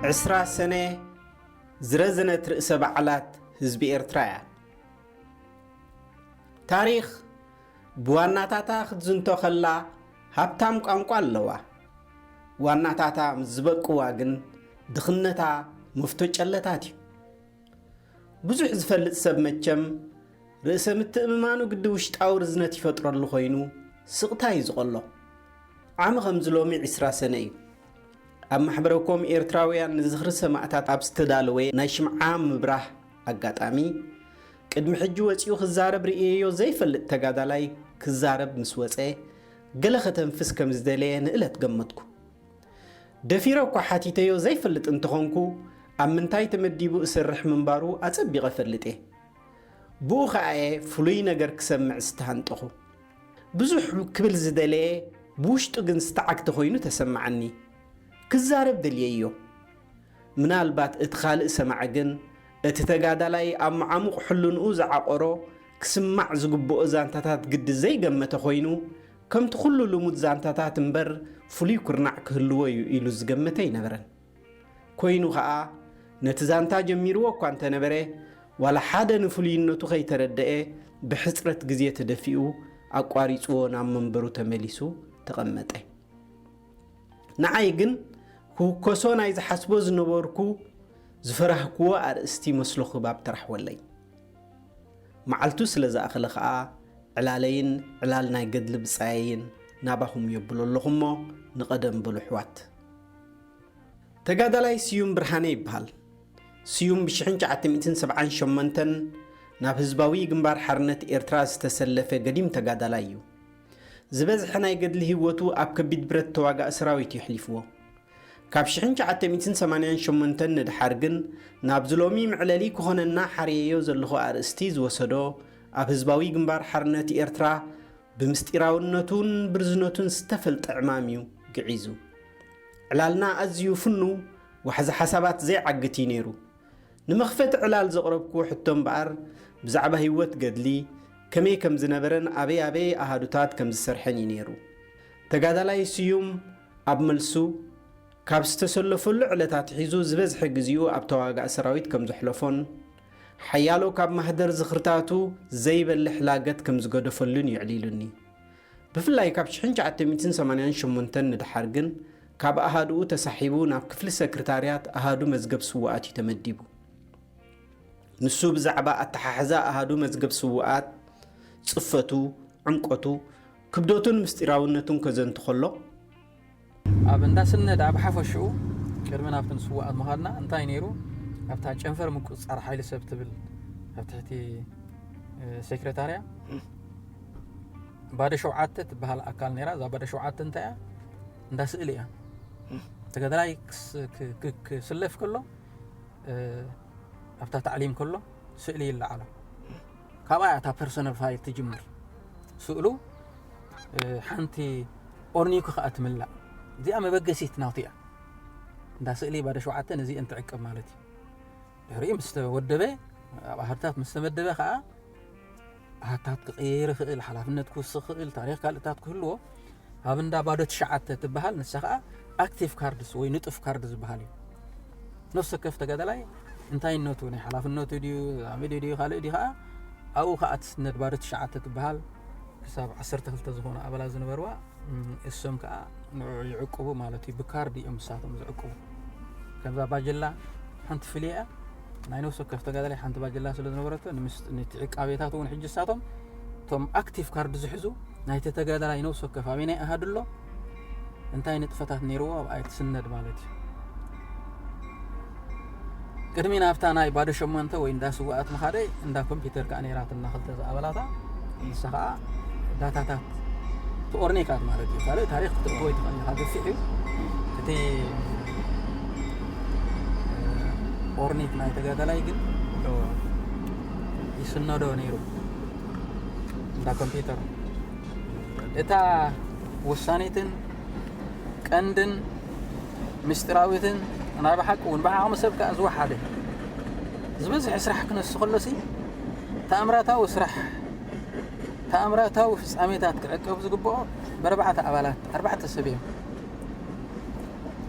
ዕስራ ሰነ ዝረዘነት ርእሰ በዓላት ህዝቢ ኤርትራ እያ ታሪኽ ብዋናታታ ክትዝንቶ ከላ ሃብታም ቋንቋ ኣለዋ። ዋናታታ ምስ ዝበቅዋ ግን ድኽነታ መፍቶ ጨለታት እዩ። ብዙሕ ዝፈልጥ ሰብ መቸም ርእሰ ምትእምማኑ ግዲ ውሽጣዊ ርዝነት ይፈጥረሉ ኮይኑ ስቕታ እዩ ዝቐሎ። ዓሚ ከምዚ ሎሚ ዕስራ ሰነ እዩ። ኣብ ማሕበረ ኮም ኤርትራውያን ንዝኽሪ ሰማእታት ኣብ ዝተዳለወ ናይ ሽምዓ ምብራህ ኣጋጣሚ፣ ቅድሚ ሕጂ ወጺኡ ክዛረብ ርእየዮ ዘይፈልጥ ተጋዳላይ ክዛረብ ምስ ወጸ ገለ ከተንፍስ ከም ዝደለየ ንእለት ገመትኩ። ደፊረ እኳ ሓቲተዮ ዘይፈልጥ እንተኾንኩ ኣብ ምንታይ ተመዲቡ እሰርሕ ምንባሩ ኣጸቢቐ እፈልጥ እየ። ብኡ ከኣ'የ ፍሉይ ነገር ክሰምዕ ዝተሃንጠኹ። ብዙሕ ክብል ዝደለየ ብውሽጡ ግን ዝተዓግተ ኮይኑ ተሰማዓኒ። ክዛረብ ደልየዮ። ምናልባት እቲ ካልእ ሰማዒ ግን እቲ ተጋዳላይ ኣብ መዓሙቕ ሕልንኡ ዝዓቖሮ ክስማዕ ዝግብኦ ዛንታታት ግዲ ዘይገመተ ኮይኑ ከምቲ ኩሉ ልሙድ ዛንታታት እምበር ፍሉይ ኩርናዕ ክህልዎ እዩ ኢሉ ዝገመተ ኣይነበረን። ኮይኑ ከኣ ነቲ ዛንታ ጀሚርዎ እኳ እንተነበረ ዋላ ሓደ ንፍሉይነቱ ከይተረደኤ ብሕጽረት ግዜ ተደፊኡ ኣቋሪጽዎ ናብ መንበሩ ተመሊሱ ተቐመጠ። ንዓይ ግን ክውከሶ ናይ ዝሓስቦ ዝነበርኩ ዝፈራህክዎ ኣርእስቲ መስሎ ክባብ ተራሕወለይ። መዓልቱ ስለ ዝኣኸለ ከኣ ዕላለይን ዕላል ናይ ገድሊ ብጻየይን ናባኹም የብሎ ኣለኹ'ሞ ንቐደም በሉ ኣሕዋት። ተጋዳላይ ስዩም ብርሃነ ይበሃል። ስዩም ብ ሽሕን ትሽዓተ ሚእትን ሰብዓን ሸሞንተን ናብ ህዝባዊ ግንባር ሓርነት ኤርትራ ዝተሰለፈ ገዲም ተጋዳላይ እዩ። ዝበዝሐ ናይ ገድሊ ህይወቱ ኣብ ከቢድ ብረት ተዋጋኢ ሰራዊት እዩ ኣሕሊፍዎ። ካብ ሽሕን ትሽዓተ ሚእትን ሰማንያን ሸሞንተን ንድሓር ግን ናብዚ ሎሚ መዕለሊ ክኾነና ሓርየዮ ዘለኹ ኣርእስቲ ዝወሰዶ ኣብ ህዝባዊ ግንባር ሓርነት ኤርትራ ብምስጢራውነቱን ብርዝነቱን ዝተፈልጠ ዕማም እዩ ግዒዙ። ዕላልና ኣዝዩ ፍኑው ዋሕዚ ሓሳባት ዘይዓግት እዩ ነይሩ። ንመኽፈቲ ዕላል ዘቕረብኩዎ ሕቶ እምበኣር ብዛዕባ ህይወት ገድሊ፣ ከመይ ከም ዝነበረን ኣበይ ኣበይ ኣሃዱታት ከም ዝሰርሐን እዩ ነይሩ። ተጋዳላይ ስዩም ኣብ መልሱ፣ ካብ ዝተሰለፈሉ ዕለት ኣትሒዙ ዝበዝሐ ግዜኡ ኣብ ተዋጋኢ ሰራዊት ከም ዘሕለፎን ሓያሎ ካብ ማህደር ዝኽርታቱ ዘይበልሕ ላገት ከም ዝገደፈሉን እዩ ኣዕሊሉኒ። ብፍላይ ካብ ሽሕን ትሽዓተ ሚእትን ሰማንያን ሸሞንተን ንደሓር ግን ካብ ኣሃዱኡ ተሳሒቡ ናብ ክፍሊ ሰክርታርያት ኣሃዱ መዝገብ ስዉኣት እዩ ተመዲቡ። ንሱ ብዛዕባ ኣተሓሕዛ ኣሃዱ መዝገብ ስዉኣት፣ ጽፈቱ፣ ዕምቆቱ፣ ክብደቱን ምስጢራውነቱን ከዘንቱ ከሎ፣ ኣብ እንዳ ስነ ድኣ ብሓፈሽኡ ቅድሚ ናብቲ ንስዋኣት ምኻድና እንታይ ነይሩ ኣብታ ጨንፈር ምቁፅፃር ሓይሊ ሰብ ትብል ኣብ ትሕቲ ሴክሬታርያ ባዶ ሸውዓተ ትበሃል ኣካል ነይራ እዛ ባዶ ሸውዓተ እንታይ እያ እንዳ ስእሊ እያ ተጋዳላይ ክስለፍ ከሎ ኣብታ ታዕሊም ከሎ ስእሊ ይለዓሎ ካብኣ እያ እታ ፐርሶናል ፋይል ትጅምር ስእሉ ሓንቲ ኦርኒዩኪ ከኣ ትምላእ እዚኣ መበገሲት ናቱ እያ እንዳ ስእሊ ባዶ ሸውዓተ ነዚኤን ትዕቅብ ማለት እዩ ድሕሪኡ ምስ ተወደበ ኣብ ኣሃድታት ምስ ተመደበ ከዓ ኣሃታት ክቕየር ይኽእል ሓላፍነት ክውስኽ ክእል ታሪክ ካልእታት ክህልዎ ኣብ እንዳ ባዶ ትሽዓተ ትበሃል ንሳ ከዓ ኣክቲቭ ካርድስ ወይ ንጡፍ ካርድ ዝበሃል እዩ ነፍሲ ወከፍ ተጋዳላይ እንታይነቱ ናይ ሓላፍነቱ ድዩ ዛሚድ ድዩ ካልእ ድዩ ከዓ ኣብኡ ከዓ ትስነድ ባዶ ትሽዓተ ትበሃል ክሳብ ዓሰርተ ክልተ ዝኾኑ ኣባላት ዝነበርዋ እሶም ከዓ ንዕዑ ይዕቅቡ ማለት እዩ ብካርድ እዮም ንሳቶም ዝዕቅቡ ከምዛ ባጀላ ሓንቲ ፍልያ እያ ናይ ነብሲ ወከፍ ተጋዳላይ ሓንቲ ባጀላ ስለ ዝነበረቶ ንቲ ዕቃቤታት እውን ሕጂ ንሳቶም እቶም ኣክቲቭ ካርድ ዝሕዙ ናይቲ ተጋዳላይ ነብሲ ወከፍ ኣበይ ናይ ኣሃዱ ኣሎ እንታይ ንጥፈታት ነይርዎ ኣብኣ እየ ትስነድ ማለት እዩ ቅድሚ ናብታ ናይ ባዶ ሸሞንተ ወይ እንዳ ስዋኣት ምኻደ እንዳ ኮምፒውተር ከዓ ነይራትና ክልተ ዝኣበላታ ንሳ ከዓ ዳታታት ትኦርኔካት ማለት እዩ ካልእ ታሪክ ክትእክቦ ይትኽእል ኢኻ ገፊሕ እዩ እቲ ኦርኔት ናይ ተጋዳላይ ግን ይስነዶ ነይሩ እንዳ ኮምፒውተር እታ ወሳኒትን ቀንድን ምስጢራዊትን ናይ ብሓቂ እውን ብዓቕሚ ሰብ ከዓ ዝወሓደ ዝበዝሐ ስራሕ ክነሱ ከሎሲ ተኣምራታዊ ስራሕ ተኣምራታዊ ፍጻሜታት ክዕቀብ ዝግብኦ በረባዕተ ኣባላት ኣርባዕተ ሰብ እዮም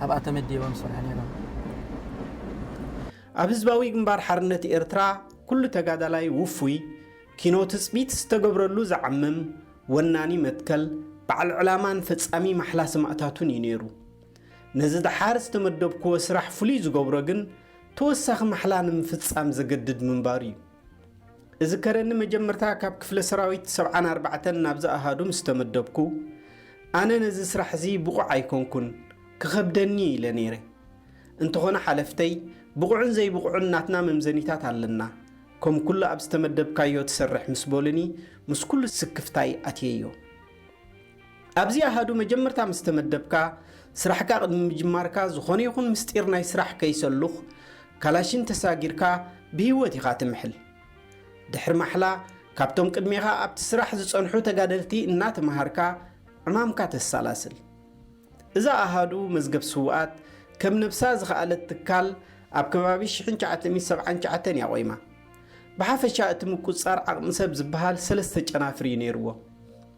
ኣብኣ ተመዲቦም ዝሰርሑ ነይሮም ኣብ ህዝባዊ ግንባር ሓርነት ኤርትራ ኩሉ ተጋዳላይ ውፉይ ኪኖ ትጽቢት ዝተገብረሉ ዝዓምም ወናኒ መትከል፣ በዓል ዕላማን ፈጻሚ ማሕላ ሰማእታቱን እዩ ነይሩ። ነዚ ደሓር ዝተመደብኩዎ ስራሕ ፍሉይ ዝገብሮ ግን ተወሳኺ ማሕላ ንምፍጻም ዘገድድ ምንባሩ እዩ። እዝከረኒ መጀመርታ ካብ ክፍለ ሰራዊት ሰብዓን ኣርባዕተን ናብዚ ኣሃዱ ምስ ተመደብኩ፣ ኣነ ነዚ ስራሕ እዚ ብቑዕ ኣይኮንኩን፣ ክኸብደኒ እዩ ኢለ ነይረ። እንተኾነ ሓለፍተይ፣ ብቑዕን ዘይብቑዕን ናትና መምዘኒታት ኣለና፣ ከም ኩሉ ኣብ ዝተመደብካዮ ትሰርሕ ምስ በሉኒ ምስ ኩሉ ስክፍታይ ኣትየዮ። ኣብዚ ኣሃዱ መጀመርታ ምስ ተመደብካ ስራሕካ ቅድሚ ምጅማርካ ዝኾነ ይኹን ምስጢር ናይ ስራሕ ከይሰሉኽ ካላሽን ተሳጊርካ ብህይወት ኢኻ ትምሕል። ድሕሪ ማሕላ ካብቶም ቅድሜኻ ኣብቲ ስራሕ ዝጸንሑ ተጋደልቲ እናተመሃርካ ዕማምካ ተሳላስል። እዛ ኣሃዱ መዝገብ ስውኣት ከም ነብሳ ዝኸኣለት ትካል ኣብ ከባቢ ሽሕን ትሽዓተ ሚእቲ ሰብዓን ትሽዓተን እያ ቆይማ። ብሓፈሻ እቲ ምቁጽጻር ዓቕሚ ሰብ ዝበሃል ሰለስተ ጨናፍር እዩ ነይርዎ።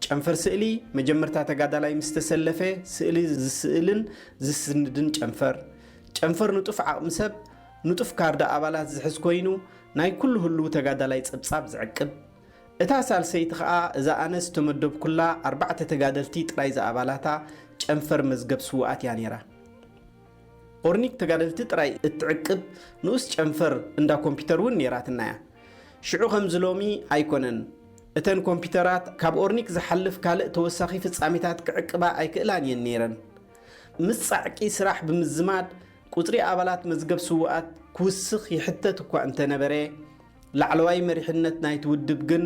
ጨንፈር ስእሊ፣ መጀመርታ ተጋዳላይ ምስ ተሰለፈ ስእሊ ዝስእልን ዝስንድን ጨንፈር። ጨንፈር ንጡፍ ዓቕሚ ሰብ፣ ንጡፍ ካርድ ኣባላት ዝሕዝ ኮይኑ ናይ ኩሉ ህሉው ተጋዳላይ ጸብጻብ ዝዕቅብ። እታ ሳልሰይቲ ከኣ እዛ ኣነ ዝተመደብኩላ ኣርባዕተ ተጋደልቲ ጥራይ ዝኣባላታ ጨንፈር መዝገብ ስዉኣት እያ ነይራ። ኦርኒክ ተጋደልቲ ጥራይ እትዕቅብ ንኡስ ጨንፈር እንዳ ኮምፒተር እውን ነይራትና እያ። ሽዑ ከምዚ ሎሚ ኣይኮነን። እተን ኮምፒተራት ካብ ኦርኒክ ዝሓልፍ ካልእ ተወሳኺ ፍጻሜታት ክዕቅባ ኣይክእላን እየን ነይረን። ምስ ጻዕቂ ስራሕ ብምዝማድ ቁጽሪ ኣባላት መዝገብ ስዉኣት ክውስኽ ይሕተት እኳ እንተነበረ፣ ላዕለዋይ መሪሕነት ናይቲ ውድብ ግን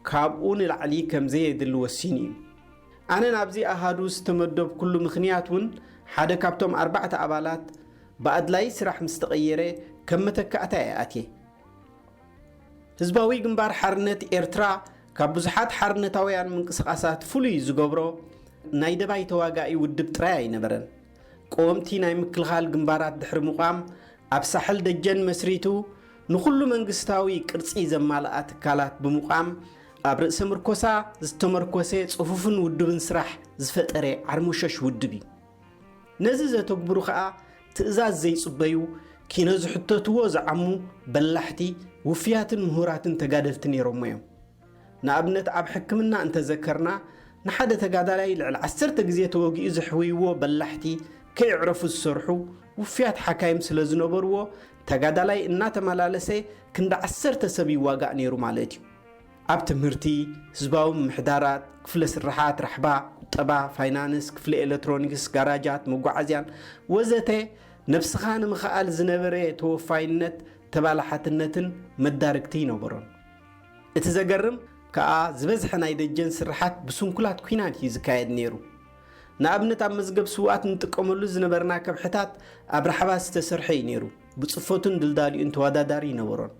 ካብኡ ንላዕሊ ከም ዘየድሊ ወሲኑ እዩ። ኣነ ናብዚ ኣሃዱ ዝተመደብኩሉ ምኽንያት እውን ሓደ ካብቶም ኣርባዕተ ኣባላት ብኣድላዪ ስራሕ ምስ ተቐየረ ከም መተካእታ እየ ኣትየ። ህዝባዊ ግንባር ሓርነት ኤርትራ ካብ ብዙሓት ሓርነታውያን ምንቅስቓሳት ፍሉይ ዝገብሮ ናይ ደባይ ተዋጋኢ ውድብ ጥራይ ኣይነበረን። ቀወምቲ ናይ ምክልኻል ግንባራት ድሕሪ ምቛም ኣብ ሳሕል ደጀን መስሪቱ ንኹሉ መንግስታዊ ቅርጺ ዘማልኣ ትካላት ብምቛም ኣብ ርእሰ ምርኮሳ ዝተመርኮሰ ጽፉፍን ውዱብን ስራሕ ዝፈጠረ ዓርሞሸሽ ውድብ እዩ። ነዚ ዘተግብሩ ከኣ ትእዛዝ ዘይጽበዩ ኪኖ ዝሕተትዎ ዝዓሙ በላሕቲ ውፍያትን ምሁራትን ተጋደልቲ ነይሮሞ እዮም። ንኣብነት ኣብ ሕክምና እንተዘከርና ንሓደ ተጋዳላይ ልዕሊ ዓሰርተ ግዜ ተወጊኡ ዘሕውይዎ በላሕቲ ከየዕረፉ ዝሰርሑ ውፍያት ሓካይም ስለ ዝነበርዎ ተጋዳላይ እናተመላለሰ ክንዲ ዓሰርተ ሰብ ይዋጋእ ነይሩ ማለት እዩ። ኣብ ትምህርቲ፣ ህዝባዊ ምምሕዳራት፣ ክፍለ ስርሓት፣ ራሕባ፣ ቁጠባ፣ ፋይናንስ፣ ክፍሊ ኤለትሮኒክስ፣ ጋራጃት፣ መጓዓዝያን ወዘተ ነብስኻ ንምኽኣል ዝነበረ ተወፋይነት ተባላሓትነትን መዳርግቲ ይነበሮን። እቲ ዘገርም ከኣ ዝበዝሐ ናይ ደጀን ስርሓት ብስንኩላት ኲናት እዩ ዝካየድ ነይሩ። ንኣብነት ኣብ መዝገብ ስውኣት እንጥቀመሉ ዝነበርና ከብሕታት ኣብ ራሕባ ዝተሰርሖ እዩ ነይሩ፣ ብጽፈቱን ድልዳሊኡን ተወዳዳሪ ኣይነበሮን።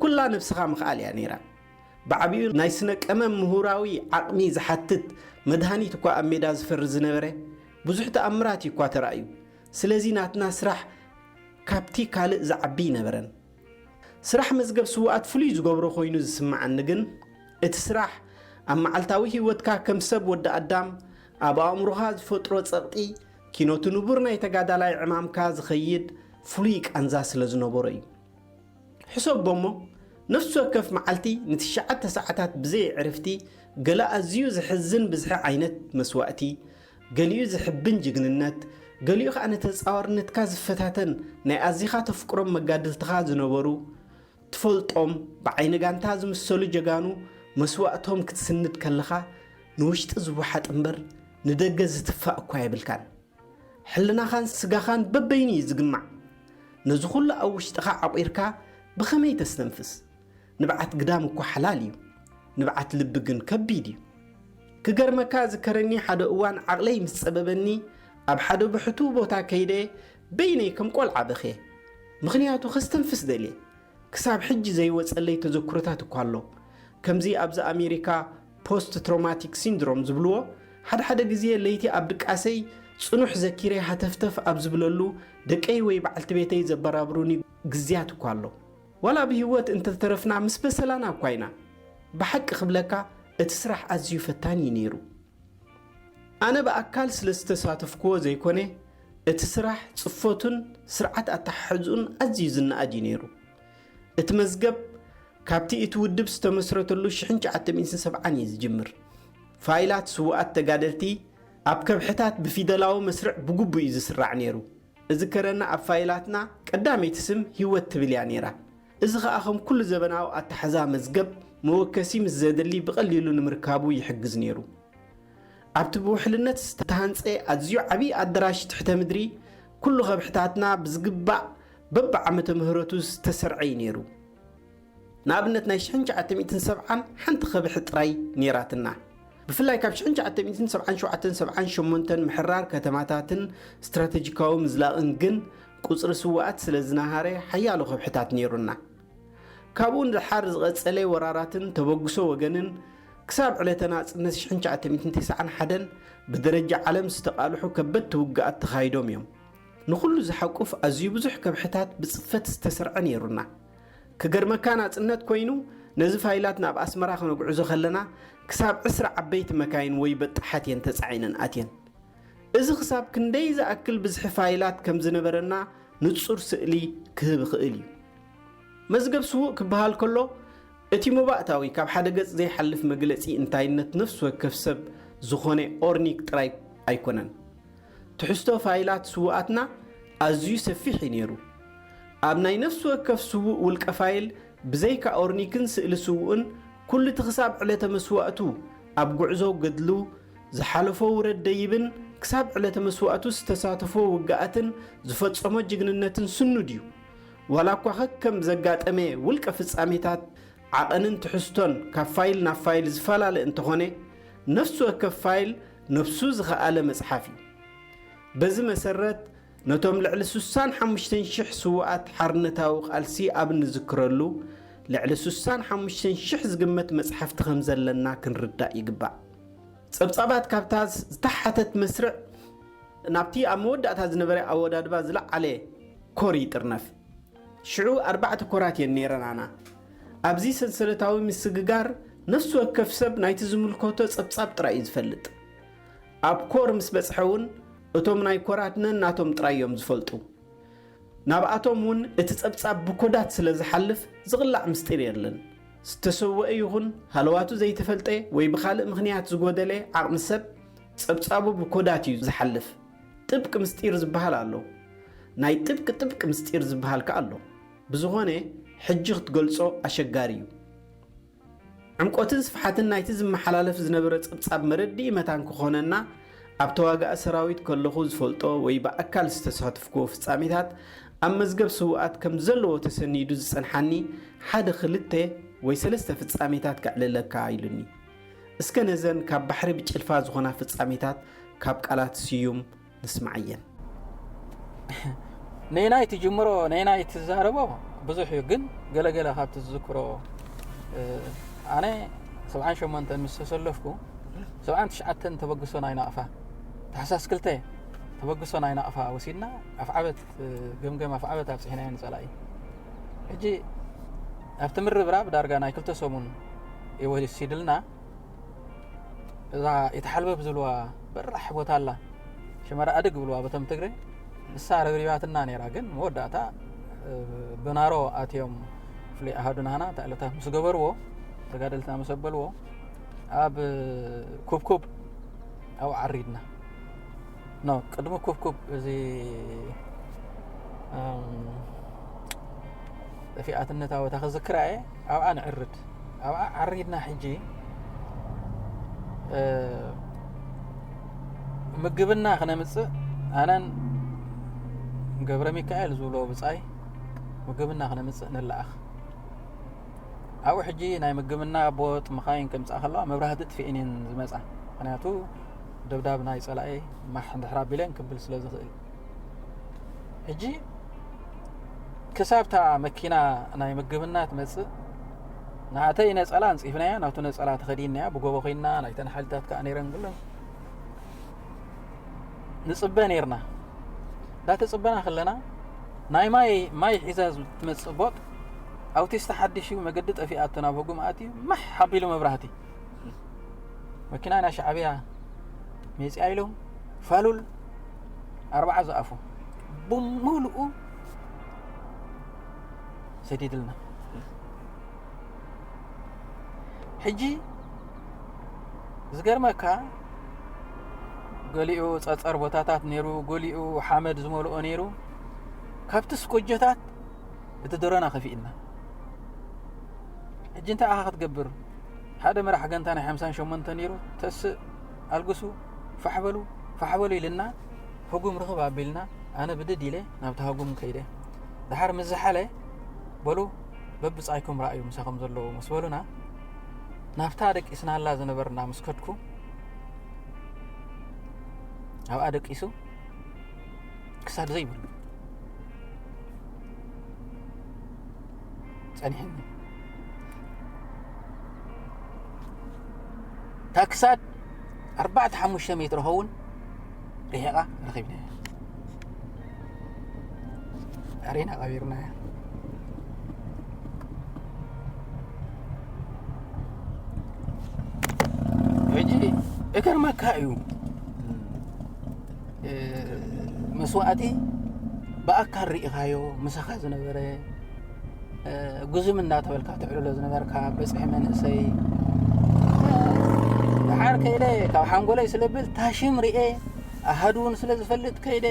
ኩላ ነብስኻ ምኽኣል እያ ነይራ። ብዓቢኡ ናይ ስነ ቀመም ምሁራዊ ዓቕሚ ዝሓትት መድሃኒት እኳ ኣብ ሜዳ ዝፈሪ ዝነበረ ብዙሕ ተኣምራት እዩ እኳ ተራእዩ። ስለዚ ናትና ስራሕ ካብቲ ካልእ ዝዓቢ ኣይነበረን። ስራሕ መዝገብ ስዉኣት ፍሉይ ዝገብሮ ኮይኑ ዝስምዓኒ ግን እቲ ስራሕ ኣብ መዓልታዊ ህይወትካ ከም ሰብ ወዲ ኣዳም ኣብ ኣእምሮኻ ዝፈጥሮ ጸቕጢ ኪኖቲ ንቡር ናይ ተጋዳላይ ዕማምካ ዝኸይድ ፍሉይ ቃንዛ ስለ ዝነበሮ እዩ። ሕሰቦ'ሞ ነፍሲ ወከፍ መዓልቲ ንትሽዓተ ሰዓታት ብዘይ ዕርፍቲ ገለ ኣዝዩ ዘሕዝን ብዝሒ ዓይነት መስዋእቲ ገሊኡ ዘሕብን ጅግንነት፣ ገሊኡ ከኣ ንተጻዋርነትካ ዝፈታተን ናይ ኣዚኻ ተፍቅሮም መጋድልትኻ ዝነበሩ፣ ትፈልጦም፣ ብዓይኒ ጋንታ ዝምሰሉ ጀጋኑ መስዋእቶም ክትስንድ ከለኻ ንውሽጢ ዝወሓጥ እምበር ንደገ ዝትፋእ እኳ የብልካን። ሕልናኻን ስጋኻን በበይኑ እዩ ዝግማዕ። ነዚ ኩሉ ኣብ ውሽጥኻ ዓቚርካ ብኸመይ ተስተንፍስ? ንብዓት ግዳም እኳ ሓላል እዩ ንብዓት ልቢ ግን ከቢድ እዩ። ክገርመካ እዝከረኒ ሓደ እዋን ዓቕለይ ምስ ጸበበኒ ኣብ ሓደ ብሕቱው ቦታ ከይደ በይነይ ከም ቆልዓ በኽየ። ምኽንያቱ ከስተንፍስ ደልየ። ክሳብ ሕጂ ዘይወጸለይ ተዘክሮታት እኳ ኣሎ። ከምዚ ኣብዚ ኣሜሪካ ፖስት ትሮማቲክ ሲንድሮም ዝብልዎ ሓድሓደ ግዜ ለይቲ ኣብ ድቃሰይ ጽኑሕ ዘኪረ ሃተፍተፍ ኣብ ዝብለሉ ደቀይ ወይ በዓልቲ ቤተይ ዘበራብሩኒ ግዝያት እኳ ኣሎ። ዋላ ብሂወት እንተተረፍና ምስ በሰላና እኳ ኢና ብሓቂ ክብለካ እቲ ስራሕ ኣዝዩ ፈታኒ እዩ ነይሩ ኣነ ብኣካል ስለ ዝተሳተፍክዎ ዘይኮነ እቲ ስራሕ ጽፈቱን ስርዓት ኣተሓሕዝኡን ኣዝዩ ዝነኣድ እዩ ነይሩ እቲ መዝገብ ካብቲ እቲ ውድብ ዝተመስረተሉ ሽሕን ትሽዓተ ሚእትን ሰብዓን እዩ ዝጅምር ፋይላት ስውኣት ተጋደልቲ ኣብ ከብሕታት ብፊደላዊ መስርዕ ብግቡእ እዩ ዝስራዕ ነይሩ እዝከረና ኣብ ፋይላትና ቀዳመይቲ ስም ሂወት ትብል እያ ነይራ። እዚ ከኣ ከም ኩሉ ዘበናዊ ኣታሕዛ መዝገብ መወከሲ ምስ ዘድሊ ብቀሊሉ ንምርካቡ ይሕግዝ ነይሩ። ኣብቲ ብውሕልነት ዝተሃንጸ ኣዝዩ ዓቢ ኣደራሽ ትሕተ ምድሪ ኩሉ ከብሕታትና ብዝግባእ በብዓመተ ምህረቱ ዝተሰርዐ እዩ ነይሩ። ንኣብነት ናይ ሽሕን ትሽዓተ ሚእትን ሰብዓን ሓንቲ ከብሒ ጥራይ ነይራትና። ብፍላይ ካብ ሽሕን ትሽዓተ ሚእትን ሰብዓን ሸውዓተን ሰብዓን ሸሞንተን ምሕራር ከተማታትን ስትራተጂካዊ ምዝላቕን ግን ቁጽሪ ስውኣት ስለ ዝነሃረ ሓያሎ ከብሕታት ነይሩና። ካብኡ ንደሓር ዝቐጸለ ወራራትን ተበግሶ ወገንን ክሳብ ዕለተ ናጽነት ሽሕን ትሽዓተ ሚእትን ተስዓን ሓደን ብደረጃ ዓለም ዝተቓልሑ ከበድቲ ውግኣት ተኻይዶም እዮም። ንኹሉ ዝሓቁፍ ኣዝዩ ብዙሕ ከብሕታት ብጽፈት ዝተሰርዐ ነይሩና። ክገርመካ ናጽነት ኮይኑ ነዚ ፋይላት ናብ ኣስመራ ክነጉዕዞ ከለና ክሳብ ዕስራ ዓበይቲ መካይን ወይ በጣሓት እየን ተጻዒነን ኣትየን። እዚ ክሳብ ክንደይ ዝኣክል ብዝሒ ፋይላት ከም ዝነበረና ንጹር ስእሊ ክህብ ይኽእል እዩ። መዝገብ ስዉእ ክበሃል ከሎ እቲ መባእታዊ ካብ ሓደ ገጽ ዘይሓልፍ መግለጺ እንታይነት ነፍሲ ወከፍ ሰብ ዝኾነ ኦርኒክ ጥራይ ኣይኮነን። ትሕዝቶ ፋይላት ስዉኣትና ኣዝዩ ሰፊሕ እዩ ነይሩ። ኣብ ናይ ነፍሲ ወከፍ ስዉእ ውልቀ ፋይል ብዘይካ ኦርኒክን ስእሊ ስዉእን ኩሉ'ቲ ክሳብ ዕለተ መስዋእቱ ኣብ ጉዕዞ ገድሉ ዝሓለፎ ውረድ ደይብን ክሳብ ዕለተ መስዋእቱ ዝተሳተፎ ውግኣትን ዝፈጸሞ ጅግንነትን ስኑድ እዩ። ዋላኳ ከከም ዘጋጠመ ውልቀ ፍጻሜታት ዓቐንን ትሕዝቶን ካብ ፋይል ናብ ፋይል ዝፈላለ እንተኾነ ነፍሲ ወከፍ ፋይል ነፍሱ ዝኸኣለ መጽሓፍ እዩ። በዚ መሰረት ነቶም ልዕሊ ሱሳን ሓሙሽተን ሽሕ ስዉኣት ሓርነታዊ ቃልሲ ኣብ እንዝክረሉ ልዕሊ ሱሳን ሓሙሽተን ሽሕ ዝግመት መጽሓፍቲ ከም ዘለና ክንርዳእ ይግባእ። ጸብጻባት ካብታ ዝተሓተት መስርዕ ናብቲ ኣብ መወዳእታ ዝነበረ ኣወዳድባ ዝለዓለ ኮር ይጥርነፍ። ሽዑ ኣርባዕተ ኮራት እየን ነይረናና። ኣብዚ ሰንሰለታዊ ምስግጋር ነፍሲ ወከፍ ሰብ ናይቲ ዝምልከቶ ጸብጻብ ጥራይ እዩ ዝፈልጥ። ኣብ ኮር ምስ በጽሐ እውን እቶም ናይ ኮራት ነናቶም ጥራይ እዮም ዝፈልጡ። ናብኣቶም እውን እቲ ጸብጻብ ብኮዳት ስለ ዝሓልፍ ዝቕላዕ ምስጢር የለን። ዝተሰወኤ ይኹን ሃለዋቱ ዘይተፈልጠ ወይ ብኻልእ ምኽንያት ዝጎደለ ዓቕሚ ሰብ ጸብጻቡ ብኮዳት እዩ ዝሓልፍ። ጥብቅ ምስጢር ዝብሃል ኣሎ ናይ ጥብቅ ጥብቅ ምስጢር ዝብሃል ከኣ ኣሎ ብዝኮነ ሕጂ ክትገልጾ ኣሸጋሪ እዩ ዕምቆትን ስፍሓትን ናይቲ ዝመሓላለፍ ዝነበረ ጸብጻብ መረድኢ መታን ክኮነና ኣብ ተዋጋኢ ሰራዊት ከለኩ ዝፈልጦ ወይ ብኣካል ዝተሳተፍክዎ ፍጻሜታት ኣብ መዝገብ ስውኣት ከምዘለዎ ተሰኒዱ ዝጸንሓኒ ሓደ ክልተ ወይ ሰለስተ ፍጻሜታት ከዕልለካ ኢሉኒ እስከ ነዘን ካብ ባሕሪ ብጭልፋ ዝኾና ፍጻሜታት ካብ ቃላት ስዩም ንስምዓየን። ነየናይ ትጅምሮ ነየናይ ትዛረቦ ብዙሕ እዩ ግን ገለገለ ካብቲ ዝዝክሮ ኣነ ሰብዓን ሸሞንተ ምስ ተሰለፍኩ ሰብዓን ትሽዓተን ተበግሶ ናይ ናቕፋ ታሕሳስ ክልተ ተበግሶ ናይ ናቕፋ ወሲድና ኣፍዓበት ገምገም ኣፍዓበት ኣብፅሒናዮ ንፀላኢ ሕጂ ኣብቲ ምርብራብ ዳርጋ ናይ ክልተ ሰሙን ወሲድልና እዛ የተሓልበብ ዝብልዋ በራሕ ቦታ ኣላ ሽመራ ኣድግ ብልዋ በቶም ትግረ ንሳ ረብሪባትና ነራ ግን መወዳእታ ብናሮ ኣትዮም ፍሉይ ኣሃዱና ሃና እታ ዕለታት ምስ ገበርዎ ተጋደልትና ምስ ኣበልዎ ኣብ ኩብኩብ ኣብኡ ዓሪድና ኖ ቅድሚ ኩብኩብ እዚ ጠፊኣትነታዊ እታ ክዝክራ እየ ኣብኣ ንዕርድ ኣብኣ ዓሪድና ሕጂ ምግብና ክነምፅእ ኣነን ገብረ ሚካኤል ዝብሎ ብፃይ ምግብና ክነምፅእ ንለኣኽ ኣብኡ ሕጂ ናይ ምግብና ቦጥ መኻይን ከምፃእ ከለዋ መብራህቲ ጥፍኤን እየን ዝመፃ ምክንያቱ ደብዳብ ናይ ጸላኤ ማሕ እንድሕር ኣቢለን ክብል ስለ ዝኽእል ሕጂ ክሳብታ መኪና ናይ ምግብና ትመጽእ ናተይ ነጸላ ኣንጺፍናያ ናቱ ነጸላ ተኸዲንያ ብጎቦ ኮይና ናይተን ሓይልታት ከዓ ነይረን ኩለን ንጽበ ነይርና እንዳተጽበና ከለና ናይ ማይ ማይ ሒዛ ትመጽእ ቦጥ ኣውቲስታ ሓድሽ እዩ መገዲ ጠፊኣቶ ናብ ህጉም ኣትዩ ማሕ ሓቢሉ መብራህቲ መኪና ናይ ሻዕብያ ሜፅያ ኢሎም ፋሉል ኣርባዓ ዝኣፉ ብምሉኡ ሰዲድልና ሕጂ ዝገርመካ ገሊኡ ፀፀር ቦታታት ነይሩ ገሊኡ ሓመድ ዝመልኦ ነይሩ ካብቲ ስኮጀታት እቲ ደረና ከፊእልና ሕጂ እንታይ ኢኻ ክትገብር ሓደ መራሕ ገንታ ናይ ሓምሳን ሸሞንተ ነይሩ ተስእ ኣልግሱ ፋሕ በሉ ፋሕ በሉ ኢልና ህጉም ርኽብ ኣቢልና ኣነ ብድድ ኢለ ናብቲ ሃጉም ከይደ ድሓር ምስ ዝሓለ በሉ በብጻይኩም ረኣዩ ምሳኹም ዘለዎ ምስ በሉና ናብታ ደቂስናላ ዝነበርና ምስ ከድኩ ኣብኣ ደቂሱ ክሳድ ዘይብሉ ጸኒሕኒ ካብ ክሳድ ኣርባዕተ ሓሙሽተ ሜትሮ ኸውን ርሒቓ ረኺብና ኣሬና ቀቢርና እያ ሕጂ እገርመካ እዩ መስዋእቲ ብኣካል ርኢኻዮ ምሳኻ ዝነበረ ጉዝም እናተበልካ ትዕልሎ ዝነበርካ በፅሒ መንእሰይ ሓር ከይደ ካብ ሓንጎለይ ስለብል ታሽም ርኤ ኣሃዱ እውን ስለ ዝፈልጥ ከይደ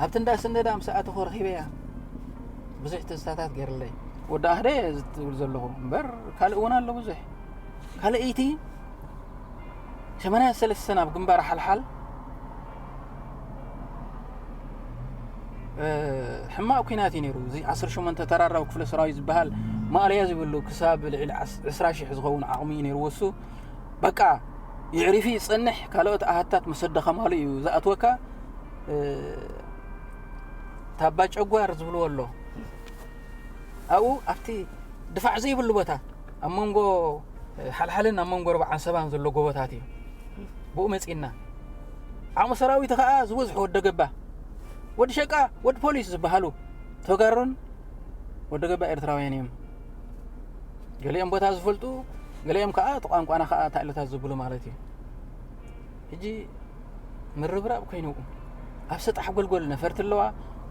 ኣብቲ እንዳ ስነዳ ምስ ኣተኹ ረኺበያ ብዙሕ ትዝታታት ገይርለይ ወዲ ኣህደ ዝትብል ዘለኹ እምበር ካልእ እውን ኣሎ ብዙሕ ካልኣይቲ ሰማንያ ሰለስተ ናብ ግንባር ሓልሓል ሕማቕ ኩናት እዩ ነይሩ እዚ 18 ተራራዊ ክፍለ ሰራዊት ዝበሃል ማእለያ ዝብሉ ክሳብ ልዕሊ 20 ሽሕ ዝኸውን ዓቕሚ እዩ ነይሩ ወሱ በቃ ይዕሪፊ ይፀንሕ ካልኦት ኣሃታት ምስ ኣደኸማሉ እዩ ዝኣትወካ ታባ ጨጓር ዝብልዎ ኣሎ ኣብኡ ኣብቲ ድፋዕ ዘይብሉ ቦታ ኣብ መንጎ ሓልሓልን ኣብ መንጎ ኣርባዓን ሰባን ዘሎ ጎቦታት እዩ ብኡ መጺእና ዓቕሚ ሰራዊት ከዓ ዝበዝሑ ወደ ገባ ወዲ ሸቃ ወዲ ፖሊስ ዝበሃሉ ተጋሩን ወደ ገባ ኤርትራውያን እዮም ገሊኦም ቦታ ዝፈልጡ ገሊኦም ከዓ እቲ ቋንቋና ከዓ ታእለታት ዝብሉ ማለት እዩ ሕጂ ምርብራብ ኮይኑ ኣብ ሰጣሕ ጎልጎል ነፈርቲ ኣለዋ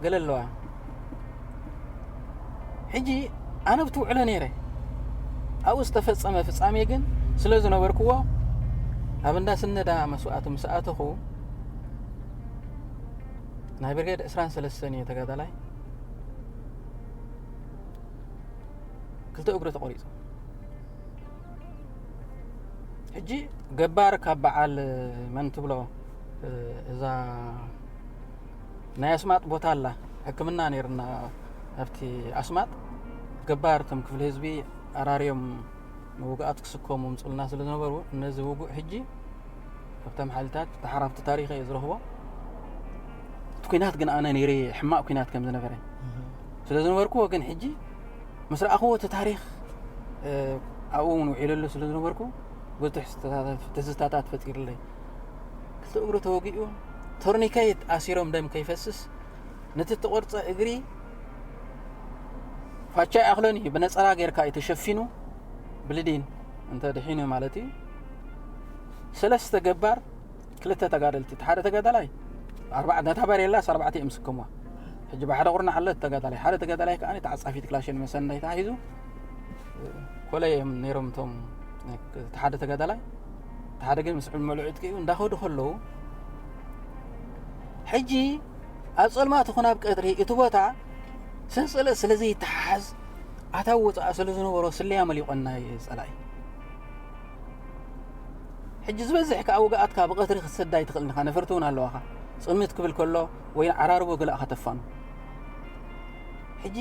ገለ ኣለዋ ሕጂ ኣነ ብትውዕሎ ነይረ ኣብኡ ዝተፈፀመ ፍፃሜ ግን ስለ ዝነበርክዎ ኣብ እንዳ ስነዳ መስዋእቲ ምስ ኣተኹ ናይ ብርጌድ ዕስራን ሰለስተን እዩ ተጋዳላይ ክልተ እግሩ ተቆሪፁ ሕጂ ገባር ካብ በዓል መን ትብሎ እዛ ናይ ኣስማጥ ቦታ ኣላ ሕክምና ነይርና ኣብቲ ኣስማጥ ገባር እቶም ክፍሊ ህዝቢ ኣራርዮም ንውግኣት ክስከሙ ምፅልና ስለ ዝነበሩ ነዚ ውጉእ ሕጂ ካብቶም ሓይልታት ተሓራፍቲ ታሪክ እዩ ዝረኽቦ እቲ ኩናት ግን ኣነ ነይረ ሕማቅ ኩናት ከም ዝነበረ ስለ ዝነበርኩዎ ግን ሕጂ ምስ ረኣኽዎ እቲ ታሪኽ ኣብኡ እውን ውዒለሉ ስለ ዝነበርኩ ብዙሕ ትዝታታት ፈጢሩለይ ክልተ እግሩ ተወጊኡ ቶርኒከይት ኣሲሮም ደም ከይፈስስ ነቲ ተቆርፀ እግሪ ፋቻ ይኣኽሎን እዩ ብነፀላ ጌርካ እዩ ተሸፊኑ ብልዲን እንተ ድሒኑ ማለት እዩ ሰለስተ ገባር ክልተ ተጋደልቲ እቲ ሓደ ተጋዳላይ ኣርባዕ ነታ በሬላስ ኣርባዕተ እዮም ስከምዋ ሕጂ ብሓደ ቁርናዕ ኣሎ ተጋዳላይ ሓደ ተጋዳላይ ከዓ ተዓፃፊት ክላሽን መሰናይ ተሓሒዙ ኮለይ እዮም ነይሮም እቶም እቲ ሓደ ተጋዳላይ እቲ ሓደ ግን ምስ ዕመሉ ዕጥቂኡ እንዳኸዱ ከለዉ ሕጂ ኣብ ፀልማት ይኹን ኣብ ቀድሪ እቲ ቦታ ሰንሰለት ስለ ዘይተሓሓዝ ኣታ ወፃእ ስለ ዝነበሮ ስለያ መሊቆና ፀላኢ ሕጂ ዝበዝሕ ከኣ ውግኣትካ ብቐትሪ ክትሰዳ ኣይትኽእልን ኢኻ፣ ነፈርቲ እውን ኣለዋኻ። ጽምት ክብል ከሎ ወይ ዓራርቦ ገለ ኣኻ ተፋኑ። ሕጂ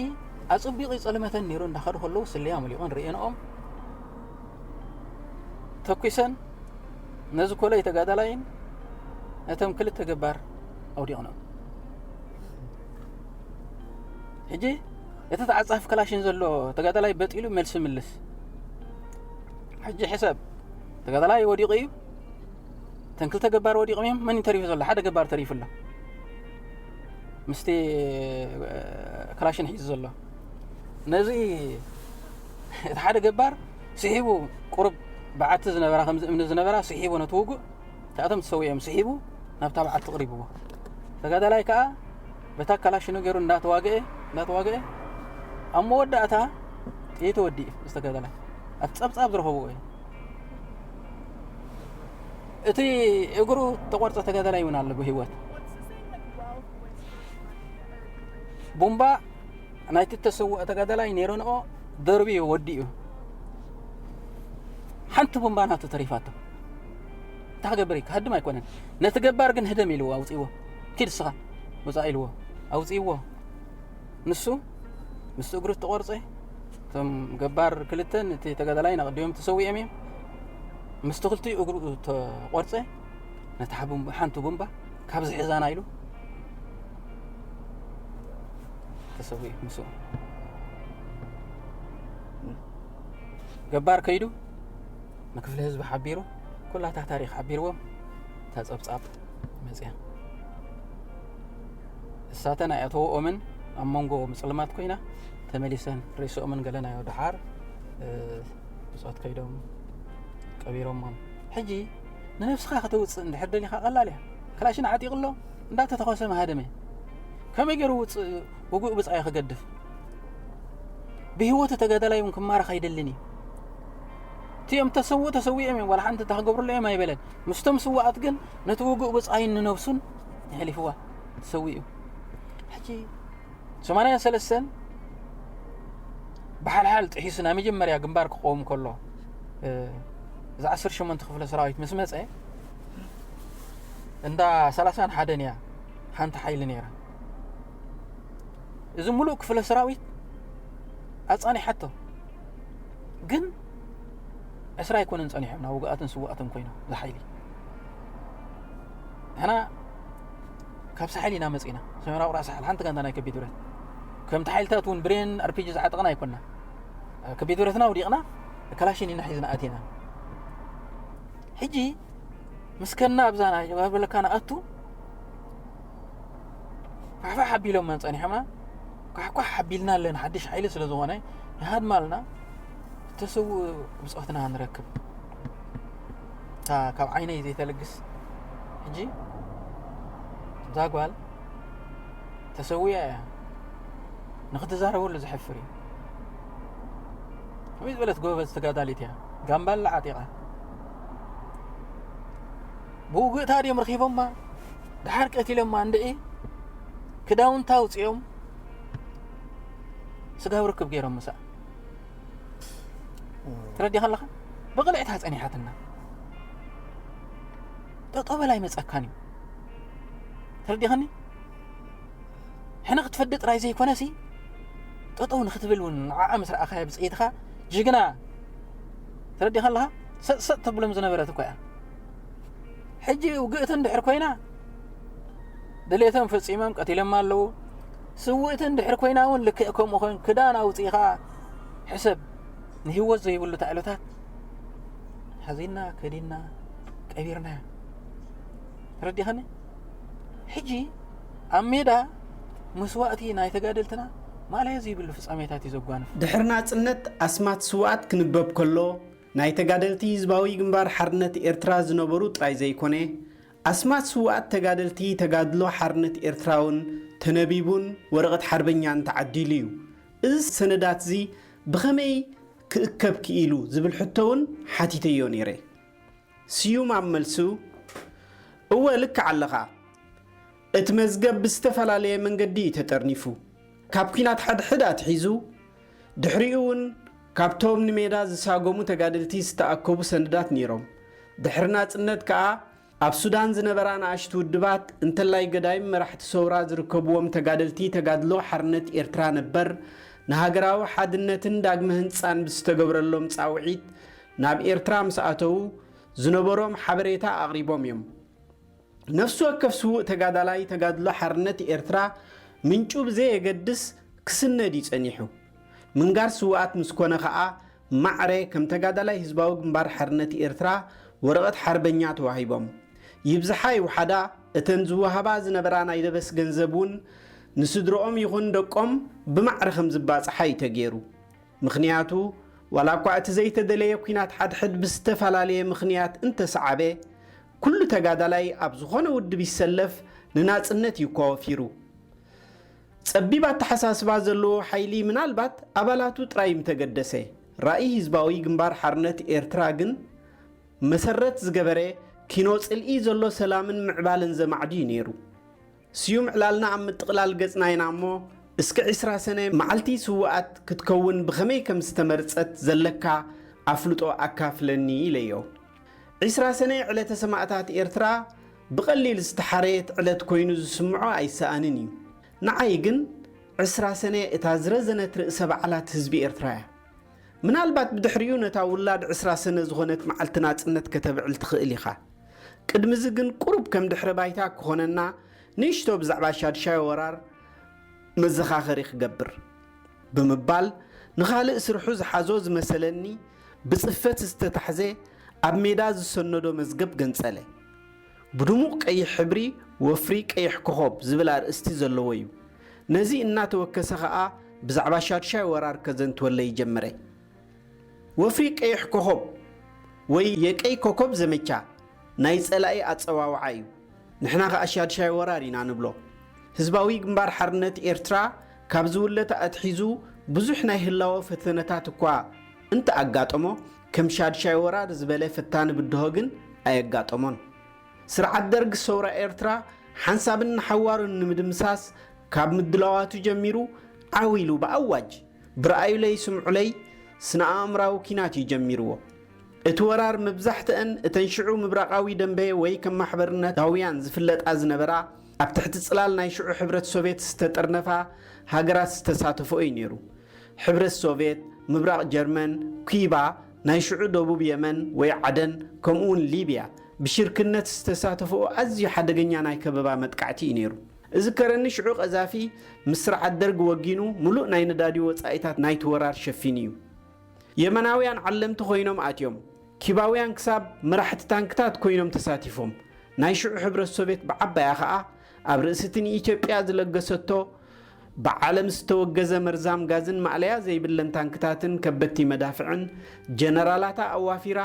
ኣጸቢቑ ይጸልመተን ነይሩ እንዳኸዱ ከለዉ ስለያ ሙሊቖን ርእየንኦም ተኲሰን ነዚ ኮለይ ተጋዳላይን ነቶም ክልተ ገባር ኣውዲቕኖም ሕጂ እቲ ተዓጻፊ ክላሽን ዘሎ ተጋዳላይ በጢሉ መልሲ ምልስ ሕጂ ሕሰብ ተጋዳላይ ወዲቑ እዩ እተን ክልተ ገባር ወዲቑም እዮም መን ተሪፉ ዘሎ ሓደ ገባር ተሪፉ ኣሎ ምስቲ ክላሽን ሒዙ ዘሎ ነዚ እቲ ሓደ ገባር ስሒቡ ቁርብ በዓቲ ዝነበራ ከምዚ እምኒ ዝነበራ ስሒቡ ነቲ ውጉእ እታቶም ተሰዊኦም ስሒቡ ናብታ በዓቲ ቅሪብዎ ተጋዳላይ ከዓ በታ ካላሽኑ ገይሩ እንዳተዋግኤ እንዳተዋግኤ ኣብ መወዳእታ ጥይቱ ወዲኡ ዝተገደለ ኣብ ፀብፃብ ዝረኸብዎ እዩ እቲ እግሩ ተቆርፀ ተገደለ ይውን ኣሎ ብሂወት ቡምባ ናይቲ ተሰውኦ ተገደላይ ነይረንኦ ደርቢ እዩ ወዲኡ ሓንቲ ቡምባ ናቱ ተሪፋቶ እንታይ ክገብር እዩ ክሃድም ኣይኮነን ነቲ ገባር ግን ህደም ኢልዎ ኣውፅዎ ኪድ ስኻ ውፃእ ኢልዎ ኣውፅእዎ ንሱ ምስ እግሩ ተቆርፀ እቶም ገባር ክልተ ነቲ ተጋዳላይ ናቅዲኦም ተሰዊኦም እዮም ምስቲ ክልቲኡ እግሩ ተቆርፀ ነቲ ሓንቲ ጉንባ ካብዚ ሕዛና ኢሉ ተሰዊ ምስ ገባር ከይዱ ንክፍለ ህዝቢ ሓቢሩ ኩላታ ታሪክ ሓቢርዎም እታ ጸብጻብ መጽያ እሳተን ኣያተወኦምን ኣብ መንጎ ምጽልማት ኮይና ተመሊሰን ሬሶኦምን ገለናዮ ድሓር ብፆት ከይዶም ቀቢሮሞም ሕጂ ንነብስኻ ከተውፅእ እንድሕር ደሊኻ ቀላል እያ ክላሽን ዓጢቕ ኣሎ እንዳተተኸሰ መሃደመ ከመይ ገይሩ ውፅእ ውጉእ ብፃዮ ክገድፍ ብሂወቱ ተጋዳላይ እውን ክማረኽ ኣይደልን እዩ እቲኦም ተሰውኡ ተሰዊኦም እዮም ዋላ ሓንቲ እንተ ክገብርሉ እዮም ኣይበለን ምስቶም ስዋኣት ግን ነቲ ውጉእ ብጻይን ንነብሱን የሕሊፍዋ ተሰዊኡ ሕጂ ሰማንያን ሰለስተን ብሓልሓል ጥሒሱ ናይ መጀመርያ ግንባር ክቆውም ከሎ እዚ ዓሰርተ ሸሞንተ ክፍለ ሰራዊት ምስ መፀ እንዳ ሰላሳን ሓደን እያ ሓንቲ ሓይሊ ነይራ እዚ ሙሉእ ክፍለ ሰራዊት ኣፃኒሓቶ ግን ዕስራ ኣይኮነን ጸኒሖም ናብ ውግኣትን ስዋኣትን ኮይኖም ዝሓይሊ ንሕና ካብ ሳሕል ኢና መጺና ሰሜና ቁራ ሳሕል ሓንቲ ጋንታ ናይ ከቢድ ብረት ከምቲ ሓይልታት እውን ብሬን ኣርፒጂ ዝዓጠቕና ኣይኮና ከቢድ ብረትና ውዲቕና ከላሽን ኢና ሒዝና ኣቲና ሕጂ ምስከና ኣብዛ ናይ በለካ ንኣቱ ኳሕኳሕ ኣቢሎመን ጸኒሖምና ኳሕኳሕ ኣቢልና ኣለን ሓድሽ ሓይሊ ስለ ዝኾነ ይሃድማልና እተሰው ብፆትና ንረክብ እታ ካብ ዓይነይ ዘይተልግስ ሕጂ እዛ ጓል ተሰውያ እያ ንክትዛረበሉ ዝሕፍር እዩ ከመይ ዝበለት ጎበዝ ተጋዳሊት እያ ጋምባላ ዓጢቓ ብውግእታ ድዮም ረኺቦማ ደሓር ቀቲሎማ እንድዒ ክዳውንታ ኣውፂኦም ስጋብ ርክብ ገይሮም ምሳኣ ትረዲኻ ኣለኻ ብቕልዕታ ፀኒሓትና ጠጠበል ኣይመፀካን እዩ ተረዲኸኒ ሕነ ክትፈዲ ጥራይ ዘይኮነ ሲ ጠጠው ንክትብል እውን ንዓዓ ምስ ረኣኻያ ብፅኢትኻ ጅግና ተረዲኻ ኣለኻ ሰጥሰጥ ተብሎም ዝነበረት እኮ እያ ሕጂ ውግእቲ እንድሕር ኮይና ድሌቶም ፈጺሞም ቀቲሎማ ኣለዉ ስውእቲ እንድሕር ኮይና እውን ልክዕ ከምኡ ኮይኑ ክዳን ኣውፂኢኻ ሕሰብ ንህይወት ዘይብሉ ታዕሎታት ሓዚና ከዲና ቀቢርና ተረዲኸኒ ሕጂ ኣብ ሜዳ መስዋእቲ ናይ ተጋደልትና ማለየ ዘይብሉ ፍጻሜታት እዩ ዘጓንፍ ድሕሪ ናጽነት ኣስማት ስውኣት ክንበብ ከሎ ናይ ተጋደልቲ ህዝባዊ ግንባር ሓርነት ኤርትራ ዝነበሩ ጥራይ ዘይኮነ፣ ኣስማት ስውኣት ተጋደልቲ ተጋድሎ ሓርነት ኤርትራውን ተነቢቡን ወረቐት ሓርበኛን ተዓዲሉ'ዩ። እዚ ሰነዳት'ዚ ብኸመይ ክእከብ ክኢሉ ዝብል ሕቶ'ውን ሓቲተዮ ነይረ። ስዩም ኣብ መልሱ፣ እወ ልክዕ ኣለኻ። እቲ መዝገብ ብዝተፈላለየ መንገዲ እዩ ተጠርኒፉ። ካብ ኲናት ሓድሕድ ኣትሒዙ፣ ድሕሪኡ'ውን ካብቶም ንሜዳ ዝሳጎሙ ተጋደልቲ ዝተኣከቡ ሰነዳት ነይሮም። ድሕሪ ናጽነት ከኣ ኣብ ሱዳን ዝነበራ ንኣሽቱ ውድባት፣ እንተላይ ገዳይም መራሕቲ ሰውራ ዝርከብዎም ተጋደልቲ ተጋድሎ ሓርነት ኤርትራ ነበር፣ ንሃገራዊ ሓድነትን ዳግመ ህንጻን ብዝተገብረሎም ጻውዒት ናብ ኤርትራ ምስ ኣተዉ፣ ዝነበሮም ሓበሬታ ኣቕሪቦም እዮም። ነፍሲ ወከፍ ስዉእ ተጋዳላይ ተጋድሎ ሓርነት ኤርትራ ምንጩ ብዘየገድስ ክስነድ እዩ ጸኒሑ። ምንጋር ስዉኣት ምስ ኮነ ከኣ ማዕረ ከም ተጋዳላይ ህዝባዊ ግንባር ሓርነት ኤርትራ ወረቐት ሓርበኛ ተዋሂቦም። ይብዝሓ ይውሓዳ እተን ዝወሃባ ዝነበራ ናይ ደበስ ገንዘብ እውን ንስድርኦም ይኹን ደቆም ብማዕረ ከም ዝባጻሓ እዩ ተገይሩ። ምኽንያቱ ዋላ እኳ እቲ ዘይተደለየ ኲናት ሓድሕድ ብዝተፈላለየ ምኽንያት እንተሰዓበ፣ ኩሉ ተጋዳላይ ኣብ ዝኾነ ውድብ ይሰለፍ ንናጽነት እዩ እኳ ወፊሩ። ጸቢብ ኣተሓሳስባ ዘለዎ ሓይሊ ምናልባት ኣባላቱ ጥራይ ምተገደሰ። ራኢ ህዝባዊ ግንባር ሓርነት ኤርትራ ግን መሰረት ዝገበረ ኪኖ ጽልኢ ዘሎ ሰላምን ምዕባለን ዘማዕዱ እዩ ነይሩ። ስዩም ዕላልና ኣብ ምጥቕላል ገጽና ኢና እሞ እስከ ዕስራ ሰነ መዓልቲ ስውኣት ክትከውን ብኸመይ ከም ዝተመርጸት ዘለካ ኣፍልጦ ኣካፍለኒ ኢለዮ። ዕስራ ሰነ ዕለተ ሰማእታት ኤርትራ ብቐሊል ዝተሓረየት ዕለት ኮይኑ ዝስምዖ ኣይሰኣንን እዩ። ንዓይ ግን ዕስራ ሰነ እታ ዝረዘነት ርእሰ በዓላት ህዝቢ ኤርትራ እያ። ምናልባት ብድሕሪኡ ነታ ውላድ ዕስራ ሰነ ዝኾነት መዓልቲ ናጽነት ከተብዕል ትኽእል ኢኻ። ቅድሚዚ ግን ቁሩብ ከም ድሕረ ባይታ ክኾነና ንእሽቶ ብዛዕባ ሻድሻይ ወራር መዘኻኸሪ ክገብር። ብምባል ንኻልእ ስርሑ ዝሓዞ ዝመሰለኒ ብጽፈት ዝተታሕዘ ኣብ ሜዳ ዝሰነዶ መዝገብ ገንጸለ። ብድሙቕ ቀይሕ ሕብሪ ወፍሪ ቀይሕ ኮኾብ ዝብል ኣርእስቲ ዘለዎ እዩ። ነዚ እናተወከሰ ከኣ ብዛዕባ ሻድሻይ ወራር ከዘንትወለይ ጀመረ። ወፍሪ ቀይሕ ኮኾብ ወይ የቀይ ኮኮብ ዘመቻ ናይ ጸላኢ ኣጸዋውዓ እዩ። ንሕና ከኣ ሻድሻይ ወራር ኢና ንብሎ። ህዝባዊ ግንባር ሓርነት ኤርትራ ካብ ዝውለተ ኣትሒዙ ብዙሕ ናይ ህላወ ፈተነታት እኳ እንተኣጋጠሞ፣ ከም ሻድሻይ ወራር ዝበለ ፈታኒ ብድሆ ግን ኣየጋጠሞን። ስርዓት ደርግ ሰውራ ኤርትራ ሓንሳብን ንሓዋሩን ንምድምሳስ ካብ ምድላዋቱ ጀሚሩ ዓው ኢሉ ብኣዋጅ ብርኣዩለይ ስምዑለይ ስነ-ኣእምራዊ ኲናት እዩ ጀሚርዎ። እቲ ወራር መብዛሕትኣን እተን ሽዑ ምብራቓዊ ደምበ ወይ ከም ማሕበርነታውያን ዝፍለጣ ዝነበራ ኣብ ትሕቲ ጽላል ናይ ሽዑ ሕብረት ሶቬት ዝተጠርነፋ ሃገራት ዝተሳተፍኦ እዩ ነይሩ። ሕብረት ሶቬት፣ ምብራቕ ጀርመን፣ ኲባ፣ ናይ ሽዑ ደቡብ የመን ወይ ዓደን፣ ከምኡ'ውን ሊብያ፣ ብሽርክነት ዝተሳተፈኦ ኣዝዩ ሓደገኛ ናይ ከበባ መጥቃዕቲ እዩ ነይሩ። እዝከረኒ ሽዑ ቀዛፊ ምስ ስርዓት ደርግ ወጊኑ ምሉእ ናይ ነዳዲ ወጻኢታት ናይቲ ወራር ሸፊኑ እዩ። የመናውያን ዓለምቲ ኮይኖም ኣትዮም። ኲባውያን ክሳብ መራሕቲ ታንክታት ኮይኖም ተሳቲፎም። ናይ ሽዑ ሕብረት ሶቬት ብዓባያ ከኣ ኣብ ርእሲ'ቲ ንኢትዮጵያ ዝለገሰቶ ብዓለም ዝተወገዘ መርዛም ጋዝን ማእለያ ዘይብለን ታንክታትን ከበድቲ መዳፍዕን ጀነራላታ ኣዋፊራ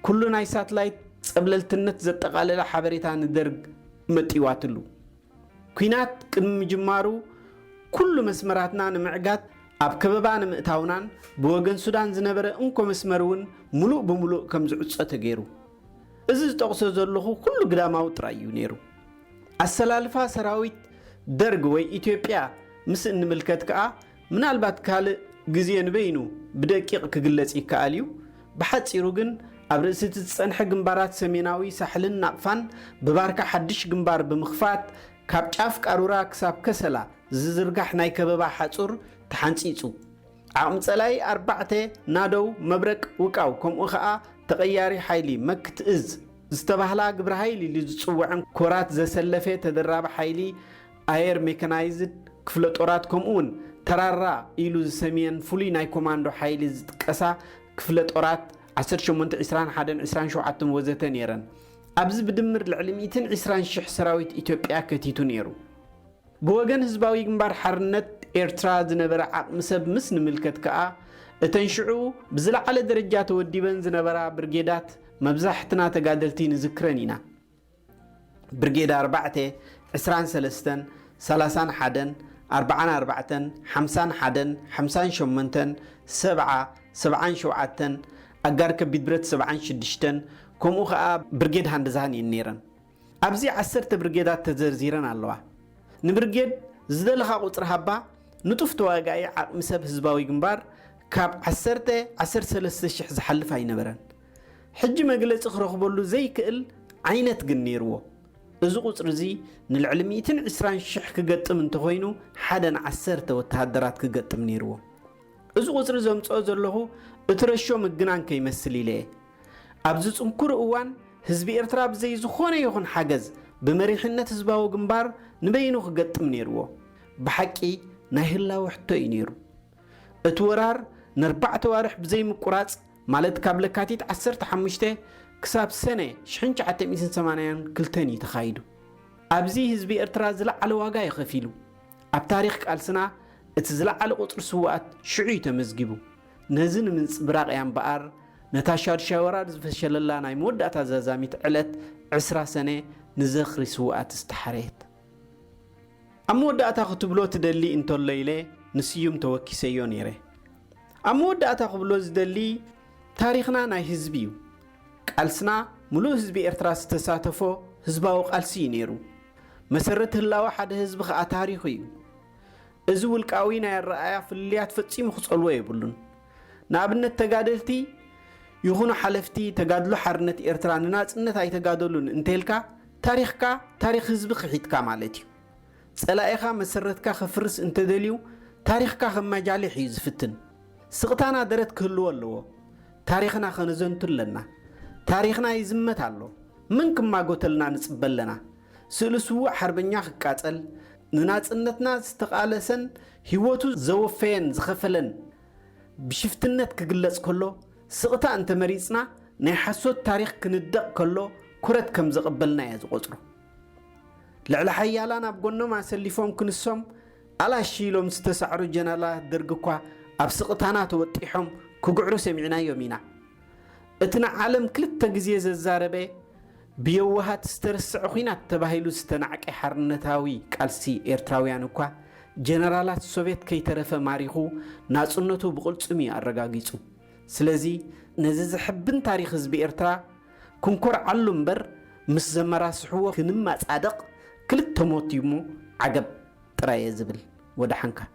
ኩሉ ናይ ሳትላይት ጸብለልትነት ዘጠቓለለ ሓበሬታ ንደርግ መጢዋትሉ። ኲናት ቅድሚ ምጅማሩ ኩሉ መስመራትና ንምዕጋት ኣብ ከበባ ንምእታውናን ብወገን ሱዳን ዝነበረ እንኮ መስመር'ውን ምሉእ ብምሉእ ከም ዝዕጾ ተገይሩ። እዚ ዝጠቕሶ ዘለኹ ኩሉ ግዳማዊ ጥራይ እዩ ነይሩ። ኣሰላልፋ ሰራዊት ደርግ ወይ ኢትዮጵያ ምስ እንምልከት ከኣ ምናልባት ካልእ ግዜ ንበይኑ ብደቂቕ ክግለጽ ይከኣል እዩ። ብሓጺሩ ግን ኣብ ርእሲ'ቲ ዝጸንሐ ግንባራት ሰሜናዊ ሳሕልን ናቕፋን ብባርካ ሓድሽ ግንባር ብምኽፋት ካብ ጫፍ ቃሩራ ክሳብ ከሰላ ዝዝርጋሕ ናይ ከበባ ሓጹር ተሓንጺጹ። ዓቕሚ ጸላኢ ኣርባዕተ ናደው መብረቅ ውቃው ከምኡ ከኣ ተቐያሪ ሓይሊ መክት እዝ ዝተባህላ ግብረ ሃይል ኢሉ ዝፅወዐን ኮራት ዘሰለፈ ተደራቢ ሓይሊ ኣየር ሜከናይዝድ ክፍለ ጦራት ከምኡ ውን ተራራ ኢሉ ዝሰምየን ፍሉይ ናይ ኮማንዶ ሓይሊ ዝጥቀሳ ክፍለ ጦራት ዓሰርተ ሸሞንተ፣ ዕስራን ሓደን፣ ዕስራን ሸውዓተን ወዘተ ነይረን። ኣብዚ ብድምር ልዕሊ ሚእትን ዕስራን ሽሕ ሰራዊት ኢትዮጵያ ከቲቱ ነይሩ። ብወገን ህዝባዊ ግንባር ሓርነት ኤርትራ ዝነበረ ዓቕሚ ሰብ ምስ ንምልከት ከኣ፣ እተን ሽዑ ብዝለዓለ ደረጃ ተወዲበን ዝነበራ ብርጌዳት መብዛሕትና ተጋደልቲ ንዝክረን ኢና። ብርጌድ ኣርባዕተ፣ ዕስራን ሰለስተን፣ ሰላሳን ሓደን፣ ኣርብዓን ኣርባዕተን፣ ሓምሳን ሓደን፣ ሓምሳን ሸሞንተን፣ ሰብዓ፣ ሰብዓን ሸውዓተን፣ ኣጋር ከቢድ ብረት ሰብዓን ሽዱሽተን፣ ከምኡ ከኣ ብርጌድ ሃንደዛን እየን ነይረን። ኣብዚ ዓሰርተ ብርጌዳት ተዘርዚረን ኣለዋ። ንብርጌድ ዝደለኻ ቁጽሪ ሃባ ንጡፍ ተዋጋኢ ዓቕሚ ሰብ ህዝባዊ ግንባር ካብ ዓሰርተ፣ ዓሰርተ ሰለስተ ሽሕ ዝሓልፍ ኣይነበረን። ሕጂ መግለጺ ክረኽበሉ ዘይክእል ዓይነት ግን ነይርዎ። እዚ ቁጽሪ እዚ ንልዕሊ ሚእትን ዕስራን ሽሕ ክገጥም እንተኾይኑ ሓደ ን ዓሰርተ ወተሃደራት ክገጥም ነይርዎ። እዚ ቁጽሪ ዘምጽኦ ዘለኹ እትረሾ ምግናን ከይመስል ኢለ እየ። ኣብዚ ጽንኩር እዋን ህዝቢ ኤርትራ ብዘይ ዝኾነ ይኹን ሓገዝ ብመሪሕነት ህዝባዊ ግንባር ንበይኑ ክገጥም ነይርዎ። ብሓቂ ናይ ህላወ ሕቶ እዩ ነይሩ። እቲ ወራር ነርባዕተ ኣዋርሕ ብዘይ ምቁራጽ ማለት ካብ ለካቲት ዓሰርተ ሓሙሽተ ክሳብ ሰነ ሽሕን ትሽዓተ ሚእትን ሰማንያን ክልተን እዩ ተኻይዱ። ኣብዚ ህዝቢ ኤርትራ ዝለዓለ ዋጋ እዩ ከፊሉ። ኣብ ታሪኽ ቃልስና እቲ ዝለዓለ ቁጽሪ ስውኣት ሽዑ እዩ ተመዝጊቡ። ነዚ ንምንጽብራቕ እያ እምበኣር ነታ ሻዱሻይ ወራር ዝፈሸለላ ናይ መወዳእታ ዛዛሚት ዕለት ዕስራ ሰነ ንዘኽሪ ስውኣት ዝተሓረየት። ኣብ መወዳእታ ክትብሎ ትደሊ እንተሎ ኢለ ንስዩም ተወኪሰዮ ነይረ። ኣብ መወዳእታ ክብሎ ዝደሊ ታሪኽና ናይ ህዝቢ እዩ። ቃልስና ምሉእ ህዝቢ ኤርትራ ዝተሳተፎ ህዝባዊ ቃልሲ እዩ ነይሩ። መሰረት ህላወ ሓደ ህዝቢ ከኣ ታሪኹ እዩ። እዚ ውልቃዊ ናይ ኣረኣእያ ፍልልያት ፈጺሙ ክጸልዎ የብሉን። ንኣብነት ተጋደልቲ ይኹኑ ሓለፍቲ ተጋድሎ ሓርነት ኤርትራ ንናጽነት ኣይተጋደሉን እንተልካ ታሪኽካ ታሪኽ ህዝቢ ክሒድካ ማለት እዩ። ጸላኢኻ መሰረትካ ከፍርስ እንተደልዩ ታሪኽካ ከማጃሊሕ እዩ ዝፍትን። ስቕታና ደረት ክህልዎ ኣለዎ። ታሪኽና ከነዘንቱ ኣለና። ታሪኽና ይዝመት ኣሎ። መን ክማጎተልና ንጽበ ኣለና። ስእሊ ስዉእ ሓርበኛ ክቃጸል፣ ንናጽነትና ዝተቓለሰን ህይወቱ ዘወፈየን ዝኸፈለን ብሽፍትነት ክግለጽ ከሎ፣ ስቕታ እንተ መሪጽና ናይ ሓሶት ታሪኽ ክንደቕ ከሎ ኩረት ከም ዘቐበልና እየ ዝቖጽሮ። ልዕለ ሓያላን ኣብ ጎኖም ኣሰሊፎም ክንሶም ኣላሽ ኢሎም ዝተሳዕሩ ጀነራላት ደርጊ እኳ ኣብ ስቕታና ተወጢሖም ክግዕሩ ሰሚዕናዮም ኢና። እቲ ንዓለም ክልተ ግዜ ዘዛረበ ብየዋሃት ዝተረስዐ ኹናት ተባሂሉ ዝተናዕቀ ሓርነታዊ ቃልሲ ኤርትራውያን እኳ ጀነራላት ሶቬት ከይተረፈ ማሪኹ ናጽነቱ ብቕልጽም እዩ ኣረጋጊጹ። ስለዚ ነዚ ዘሕብን ታሪኽ ህዝቢ ኤርትራ ክንኮርዓሉ እምበር ምስ ዘመራስሕዎ ክንመጻደቕ ክልተ ሞት እዩሞ ዓገብ ጥራይ እየ ዝብል። ወደሓንካ።